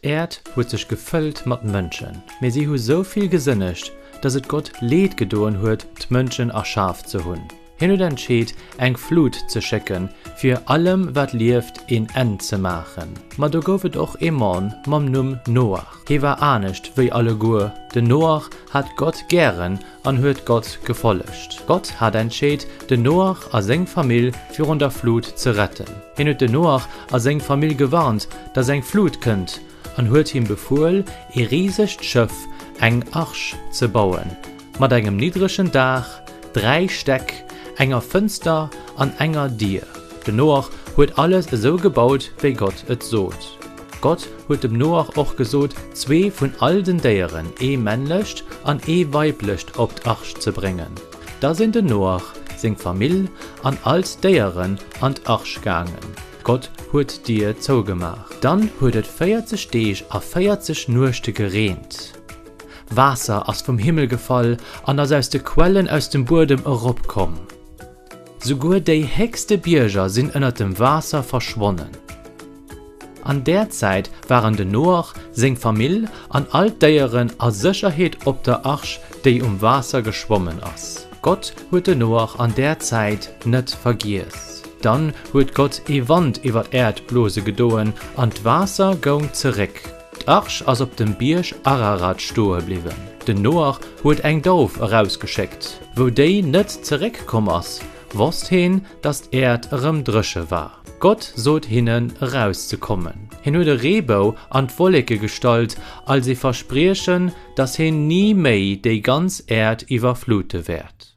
D'Äerd huet sech gefëllt mat Mënschen, mee si hu sou vill gesënnegt, dass et Gott Leed gedoen huet, d'Mënschen erschaf ze hunn. Hien huet entscheet, eng Flut ze schécken, fir allem, wat lieft, een Enn ze maachen. Ma do gouf et och ee Mann mam Numm Noach. Hie war anescht wéi alleguer. Den Noach hat Gott gären an huet Gott gefollegt. Gott hat entscheet, den Noach a seng Famill virun der Flut ze retten. Hien huet den Noach a seng Famill gewarnt, dass eng Flut kënnt, an huet him befuel, ee risegt Schëff, eng Arch, ze bauen, mat engem niddregen Daach, dräi Stäck, enger Fënster an enger Dier. Den Noach huet alles esou gebaut, wéi Gott et sot. Gott huet dem Noach och gesot, zwee vun all den Déieren, ee männlecht an ee weiblecht, op d'Arch ze bréngen. Da sinn den Noach, seng Famill an all d'Déieren an d'Arch gaangen. Gott huet d'Dier zougemaach. Dann huet et véierzeg Deeg a véierzeg Nuechte gereent. Waasser ass vum Himmel gefall an ass aus de Quellen aus dem Buedem eropkomm. Souguer déi héchste Bierger sinn ënnert dem Waasser verschwonnen. An där Zäit waren de Noach, seng Famill an all d'Déieren a Sécherheet op der Arch, déi um Waasser geschwommen ass. Gott huet de Noach an där Zäit net vergiess. Dann huet Gott ee Wand iwwer d'Äerd blose gedoen an d'Waasser goung zeréck. D'Arch ass op dem Bierg Ararat stoe bliwwen. Den Noach huet eng Dauf erausgeschéckt. Wou déi net zeréck komm ass, wosst hien, datt d'Äerd erëm dréche war. Gott sot hinnen, erauszekommen. Hien huet e Reebou an d'Wolleke gestallt, als ee Verspriechen, datt hien ni méi déi ganz Äerd iwwerflute wäert.